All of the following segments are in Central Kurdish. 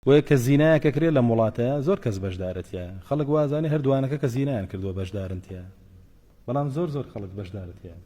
بۆیە کە زینایەک ئەکرێ لەم وڵاتەیا زۆر کەس بەشدارە تیایا خەڵک وازانێ هەر دوانەکە کە زینایان کردوە بەشدارن تیایا بەڵام زۆر زۆر خەڵک بەشدارە تیایا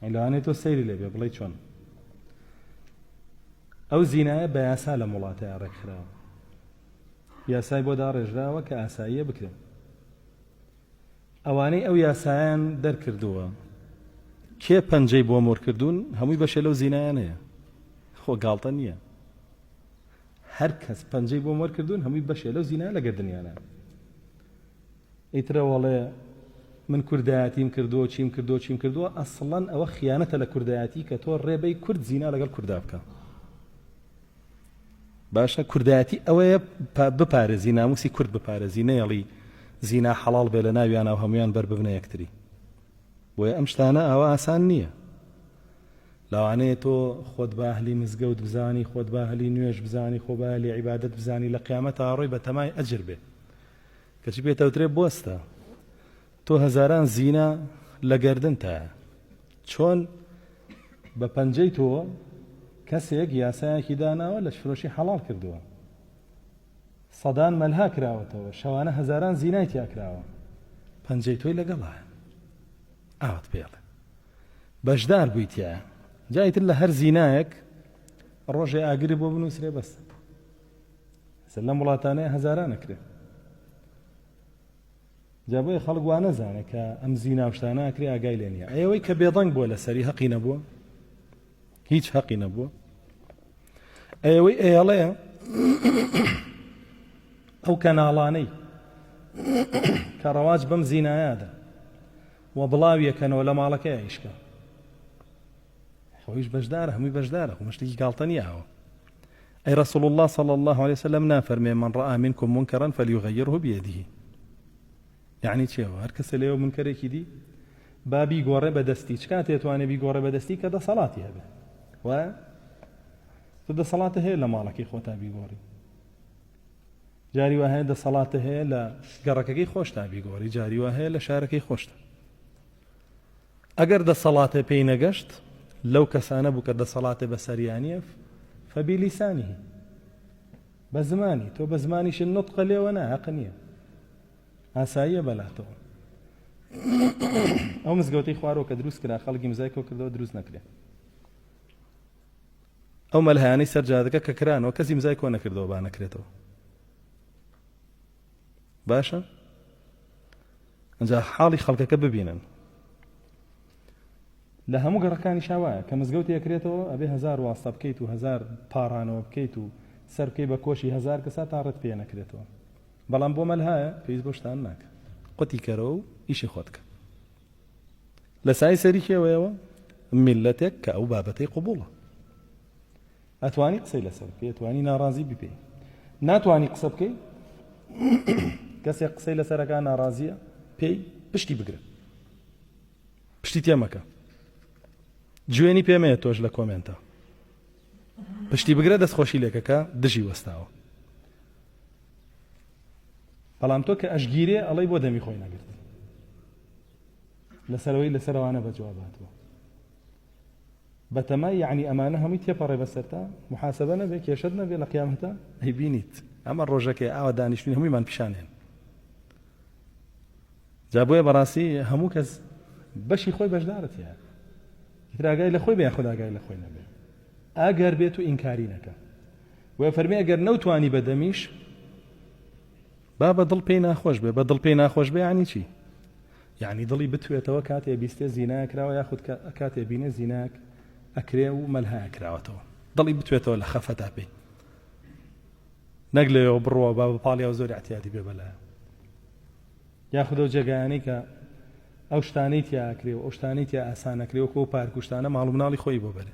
ئەی لەوانێ تۆ سەیری لێبێ بڵێ چۆن ئەو زینایە بە یاسا لەم وڵاتەیا ڕێکخراوە یاسای بۆ داڕێژراوە کە ئاساییە بکرێن ئەوانەی ئەو یاسایان دەرکردووە کێ پەنجەی بۆ مۆر کردوون هەمووی بەشێ لەو زینایانەیە خۆ گاڵتە نییە هەر کەس پەنجەی بۆ مۆر کردوون هەمووی بەشێ لەو زینایە لە گردنیانە ئیترە وەڵێ من کوردایەتیم کردووە چیم کردو چیم کردووە ئەسڵەن ئەوە خیانەتە لە کوردایەتی کە تۆ ڕێبەی کورد زینا لەگەڵ کوردا بکە باشە کوردایەتی ئەوەیە بپارێزی ناموسی کورد بپارێزی نەیەڵی زینا حەڵاڵ بێ لە ناویانە و هەمویان بەر ببنە یەکتری بۆیە ئەم شتانە ئاوا ئاسان نییە لاوانەیە تۆ خۆت بە ئەهلی مزگەوت بزانی خۆت بە ئەهلی نوێژ بزانی خۆ بە ئەهلی عیبادەت بزانی لە قیامەت ئاڕۆی بە تەمای ئەجر بێ کەچی پێتەوترێ بۆستە تۆ هەزاران زینا لە گەردنتایە چۆن بە پەنجەی تۆ کەسێک یاسایەکی داناوە لەشفرۆشی حەڵاڵ کردووە سەدان مەلها کراوەتەوە شەوانە هەزاران زینای تیا کراوە پەنجەی تۆی لەگەڵایە ئاوت پێڵێ بەشدار بوویتە جایتر لە هەر زینایەک ڕۆژێ ئاگری بۆ بنووسرێ بەس سەر لەم وڵاتانەیە هەزاران نەکرێت جا بۆیە خەڵک وا نەزانێ کە ئەم زینا و شتانە ئەکرێ ئاگای لێ نیە ئەیەوەی کە بێدەنگ بووە لە سەری هەقی نەبووە هیچ هەقی نەبووە ئەیەوەی ئەیەڵێ ئەو کەناڵانەی کە ڕەواج بەم زینایادا و بڵاویەکەنەوە لە ماڵەکەی ئایشکە خۆیش بەشدارە هەمووی بەشدارە خۆ مشتێکی گاڵتە نیە ئەوە ئەی رسول الله صلی الله عليه وسلم نافەرمێ من رأى منكم منكرا فليغيره بيده یعنی چێوە هەر کەسە لێوە منکەرێکی دی با بیگۆڕێ بە دەستی چ کاتێ توانێ بیگۆڕێ بە دەستی کە دەسەڵاتی هەبێ وایە تۆ دەسەڵاتە هەیە لە ماڵەکەی خۆتا بیگۆڕی جاری وا هەیە دەسەڵاتە هەیە لە گەڕەکەکەی خۆشتا بیگۆڕی جاری وا هەیە لە شارەکەی خۆشتە ئەگەر دەسەڵاتێ پێی نەگەشت لەو کەسانە بوو کە دەسەڵاتێ بەسەریا نیە فبلیسانه بە زمانی تۆ بە زمانیشت نطقە لێوە نا هەق نییە ئاساییە بەلاتەوە ئەو مزگەوتی خوارەوە کە دروست کرا خەڵکی مزای کۆ کردەوە دروست نەکرێ ئەو مەلهیانەی سەر جادەکە کە کرانەوە کەسی مزای کۆ نەکردەوە با نەکرێتەوە باشە ئینجا حاڵی خەڵکەکە ببینن لە هەموو گەڕەکانی شاوایە کە مزگەوت یەکرێتەوە ئەبێ هزار واستە بکەیت و هزار پارانەوە بکەیت و سەر بکەی بە کۆشی هزار کەسا تا ڕێت پێ نەکرێتەوە بەڵام بۆ مەلهایە پێویست بۆشتان ناکە قوتی کەرەوە و ئیشی خۆتکە لە سای سەری کێوەیەوە میلەتێک کە ئەو بابەتەی قوبوڵە ئەتوانی قسەی لەسەر بکەی ئەتوانی ناڕازی ببێ ناتوانی قسە بکەی کەسێک قسەی لەسەرەکە ناڕازیە پێی پشتی بگرە پشتی تێمەکە جوێنی پێمەیە تۆش لە کۆمێنتە پشتی بگرە دەستخۆشی لێکەکە دژی وەستاوە بەڵام تۆ کە ئەشگیرێ ئەڵەی بۆ دەمی خۆی نەگرت لەسەرەوەی لەسەرەوانە بە جواباتەوە بەتەمای یەعنی ئەمانە هەمووی تێپەڕێ بەسەرتا محاسەبە نەبێ کێشەت نەبێ لە قیامەتا ئەیبینیت ئەمە ڕۆژەکەی ئاوا دانیشتوین هەموویمان پیشانێن جا بۆیە بەڕاستی هەموو کەس بەشی خۆی بەشدارت هەیە ئیتراگای لە خۆی بێ خوداگای لە خۆی نەبێ ئاگەر بێت و ئینکاری نەکە وە فەرمی ئەگەر نەوتانی بەدەمیش با بە دڵ پێی ناخۆش بێ، بە دڵ پێی ناخۆش بێ یانی چی؟ یانی دڵی بتوێتەوە کاتێ بیستێ زینایە کراوە یاخود کاتێ بینێ زینایەک ئەکرێ و مەلهایە کراوەتەوە دڵی بتوێتەوە لە خەفەتا پێی نەک لەوێەوە بڕوە با بە پاڵیا و زۆر احتیادی بێ بەلایە یاخود ئەو جێگایانەی کە ئەو شتانەی تیاکرێ و ئەو شتانەی تیا ئاسانەکرێ وەکۆ پارکوشتانە ماڵ مناڵی خۆی بۆ بەرێ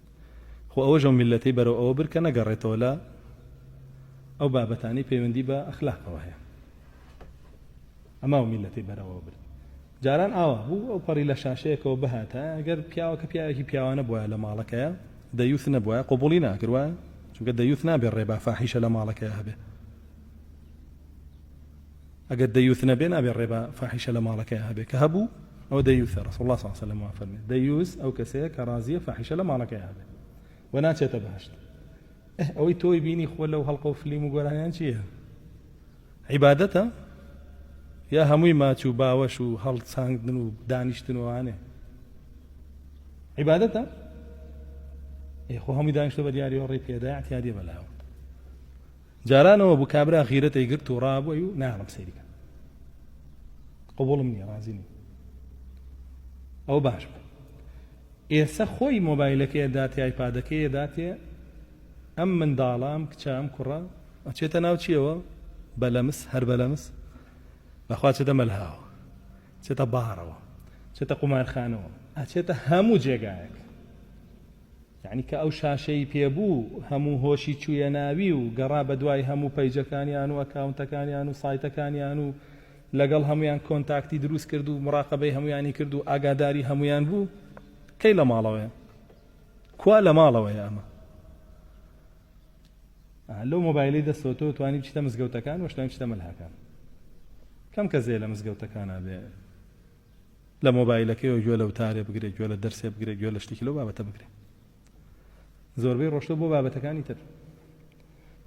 خۆ ئەوەش ئەو میللەتەی بەرەو ئەوە برد کە نەگەڕێتەوە لە ئەو بابەتانەی پەیوەندی بە ئەخلاقەوە هەیە. ئەمە ئەو میللەتەی بەرەوەوە برد. جاران ئاوا بوو، ئەو پەڕی لە شاشەیەکەوە بهاتایە، ئەگەر پیاوەکە پیاوێکی پیاوانە بوایە لە ماڵەکەیا، دەیوث نەبوایە، قبوڵی ناکرد وایە؟ چونکە دەیوث نابێت ڕێبا فاحیشە لە ماڵەکەیا هەبێت. ئەگەر دەیوث نەبێ نابێ ڕێبە فاحیشە لە ماڵەکەیا هەبێ کە هەبوو ئەوە دەیوثە ڕەسوڵ اللە صلی اللە علیە وسلم وا فەرمێ دەیوث ئەو کەسەیە کە ڕازیە فاحیشە لە ماڵەکەیا هەبێ و ناچێتە بەهشت ئه ئەوەی تۆی بینی خۆ لەو هەڵقە و فلیم و گۆرانیان چییە عیبادەتە یا هەمووی ماچ و باوەش و هەڵساندن و دانیشتن وانێ عیبادەتە ئێ خۆ هەمووی دانیشتە بە دیاری و ڕێ پێدا اعتیادی بەلاوە جاران ئەوە بوو کابرا غیرەت ئەیگرت و ڕا بووی و نایەڵم سەیری کەم قبوڵم نیە ڕازی نیم ئەو باش بوو ئێسە خۆی مۆبایلەکەی ئەداتێ ئایپادەکەی ئەداتێ ئەم منداڵە ئەم کچە ئەم کوڕە ئەچێتە ناو چیەوە بەلەمس هەر بەلەمس بەخوا چێتە مەلهاوە چێتە باڕەوە چێتە قومارخانەوە ئەچێتە هەموو جێگایەک یەعنی کە ئەو شاشەی پێ بوو هەموو هۆشی چوویە ناوی و گەڕا بەدوای هەموو پەیجەکانیان و ئەکاونتەکانیان و سایتەکانیان و لەگەڵ هەموویان کۆنتاکتی دروست کرد و مڕاقەبەی هەموویانی کرد و ئاگاداری هەموویان بوو کەی لە ماڵەوەیە کوا لە ماڵەوەیە ئەمە لەو مۆبایلی دەستەوە تۆ توانی بچیتە مزگەوتەکان وەشتوانی بچیتە مەلهاکان کەم کەس هەیە لە مزگەوتەکانە بێ لە مۆبایلەکەیەوە گوێ لە وتارێ بگرێ گوێ لە دەرسێ بگرێ گوێ لە شتێکی لەو بابەتە بگرێ زۆربەی ڕۆشتە بۆ بابەتەکانی تر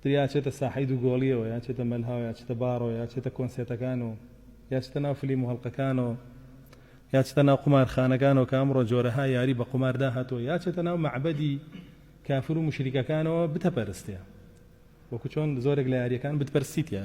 دریا چێتە ساحەی دوو گۆڵیەوە یا چێتە مەلهاو یا چێتە باڕۆ یا چێتە کۆنسێتەکان و یا چتە ناو فلیم و هەڵلقەکانەوە یا چتە ناو قومارخانەکانەوە کە ئەمڕۆ جۆرەها یاری بە قوماردا هاتووە یا چێتە ناو معبەدی کافر و مشریکەکانەوە بتەپەرستێ وەکو چۆن زۆرێک لە یاریەکان بتپەرسیتە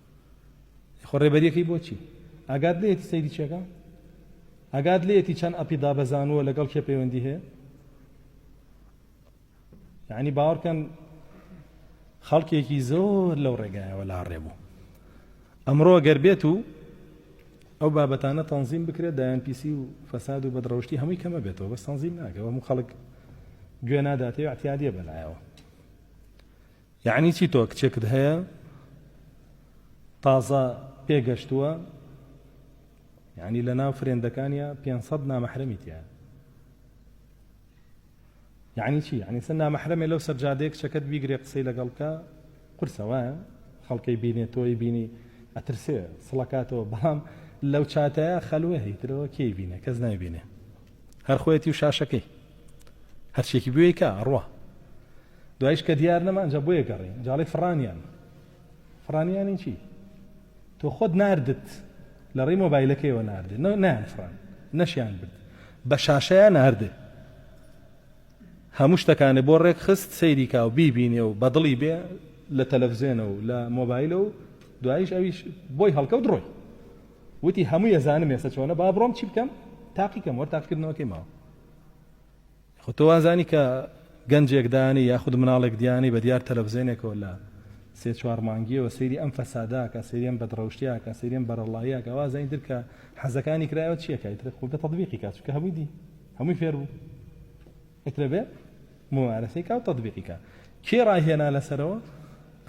خۆ ڕێبەریەکەی بۆچی ئاگات لێتی سەیری چێکە ئاگات لێتی چەند ئەپی دابەزانووە لەگەڵ کێ پەیوەندی هەیە یعنی باوەڕکەن خەڵکێکی زۆر لەو ڕێگایەوە لا ڕێبوو ئەمڕۆ گەر بێت و ئەو بابەتانە تەنظیم بکرێت دایان پیسی و فەساد و بەدڕەوشتی هەمووی کەمە بێتەوە بەس تەنظیم ناکەەوە هەموو خەڵک گوێ ناداتێ احتیادە بەلایەوە یەعنی چی تۆ کچێکت هەیە تازە پێگەشتووە یەعنی لە ناو فرێندەکانیا پێنج سەد نامەحرەمی تیایە یەعنی چی یەعنی سەر نامەحرەمێ لەو سەرجادەیە کچەکەت بیگرێ قسەی لەگەڵ بکە قورسە وایە خەڵکەی بینێ تۆی بینی ئەترسێ سڵەکاتەوە بەڵام لەو چاتەیە خەلوێ هیترەوە کێی بینێ کەس نایبینێ هەر خۆیەتی و شاشەکەی هەرچێکی بوێی کە ئەڕوا دوایش کە دیار نەما ئەجا بۆیە گەڕی جاڵی فڕانیان فڕانیانی چی تۆ خۆت ناردت لە ڕێی مۆبایلەکەیەوە ناردێ نان فڕان نەشیان برد بە شاشەیە ناردێ هەموو شتەکانێ بۆ ڕێک خست سەیریکا و بیبینێ و بەدڵی بێ لە تەلەڤزیێنە و لە مۆبایلە و دوایش ئەویش بۆی هەڵکەوت ڕۆی وتی هەمووی ئەزانم ئێستا چۆنە با بڕۆم چی بکەم تاقی کەم وەر تاقیکردنەوەکەی ماوە خۆ تۆ وازانی کە گەنجێک دانی یاخود مناڵێک دیانی بە دیار تەلەڤزیۆنێکەوە لە سێ چوار مانگیەوە سەیری ئەم فەساداکە سەیرێن بەدڕەوشتیاکە سەیرێن بەرەڵاییاکە وازانی درکە حەزەکانی کرایەوە چیەکای تر خۆ بە تەطبیقی کات چکە هەمووی دی هەمووی فێر بوو ئەترە بێ ممارەسەی کا و تەطبیقی کا کێ ڕاهێنا لەسەرەوە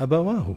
ئەبەواهوو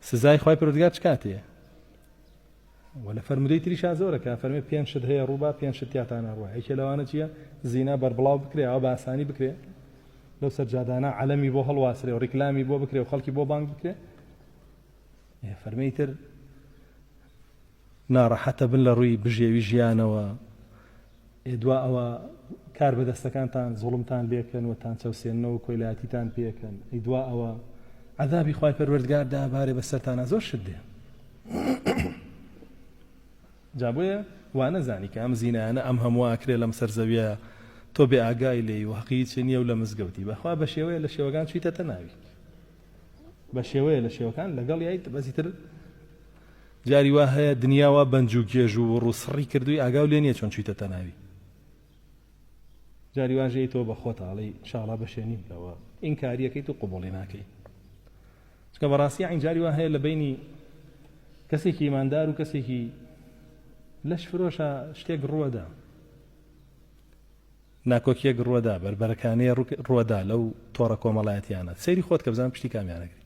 سزای خوای پەروەردگار چ کاتێیە؟ و لە فەرمودەی تریشا زۆرە کە فەرمی پێنج شت هەیە ڕووبا پێنج شت تیاتان ناڕوە یەکێ لەوانە چییە زینا بەربڵاو بکرێ ئەوە بە ئاسانی بکرێ لەو سەرجادانە عەلەمی بۆ هەڵواسرێ و ڕیکلامی بۆ بکرێ و خەڵکی بۆ بانگ بکرێ فەرمی تر ناڕەحەتبن لە ڕووی بژێوی ژیانەوە، ئێ دوا ئەوە کار بە دەستەکانتان زوڵمتان لێکەن و تانچەوسێننەوە کۆیلایەتیتان پێکەن، ئەی دوا ئەوە عەزابی خوای پەروەردگار دابارێ بە سەرتانا زۆر شت دێ. جا بۆیە وانەزانی کە ئەم زینایانە ئەم هەمووە ئەکرێ لەم سەر زەویە تۆ بێ ئاگای لێی و هەقی هیچی نیە و لە مزگەوتی بە خوا بە شێوەیە لە شێوەکان چویتەتە ناوی بە شێوەیە لە شێوەکان لەگەڵ یایت بەزیتر جاری وا هەیە دنیا وا بەنج و گێژ و وڕ و سڕی کردووی ئاگاو لێ نیە چۆن چویتە تەناوی جاری واش هەیە تۆ بەخۆت ئاڵێی شاڵا بەشێ نیم لەوە ئینکاریەکەیت و قوبوڵی ناکەی چکە بەڕاستی عین جاری وا هەیە لە بینی کەسێکی ئیماندار و کەسێکی لەش فرۆشە شتێک ڕوەدا ناکۆکیەک ڕوەدا بەربەرەکانەیە ڕوەدا لەو تۆڕە کۆمەڵایەتیانە سەیری خۆت کە بزان پشتی کامیانەگری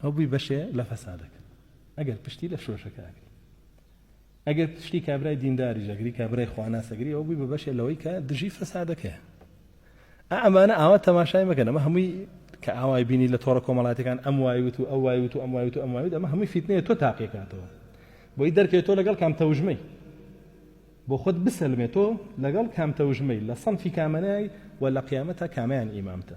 ئەو بوی بەشێ لە فەسادەکە ئەگەر پشتی لە شۆشەکە ئەگری ئەگەر پشتی کابرای دینداری ژەگری کابرای خواناسەگری ئەو بوی بە بەشێ لەوەی کە دژی فەسادەکە ئەمانە ئاوا تەماشای مەکەن ئەمە هەمووی کە ئاوای بینی لە تۆڕە کۆمەڵاتەکان ئەم وایوت و ئەو وایوت و ئەم وایوت و ئەم وایوت ئەمە هەمووی فیتنەیە تۆ تاقیکاتەوە بۆی دەرکەوێت تۆ لەگەڵ کام تەوژمەی بۆ خۆت بسەلمێت تۆ لەگەڵ کام تەوژمەی لە سەنفی کامەنای و لە قیامەتە کامیان ئیمامتە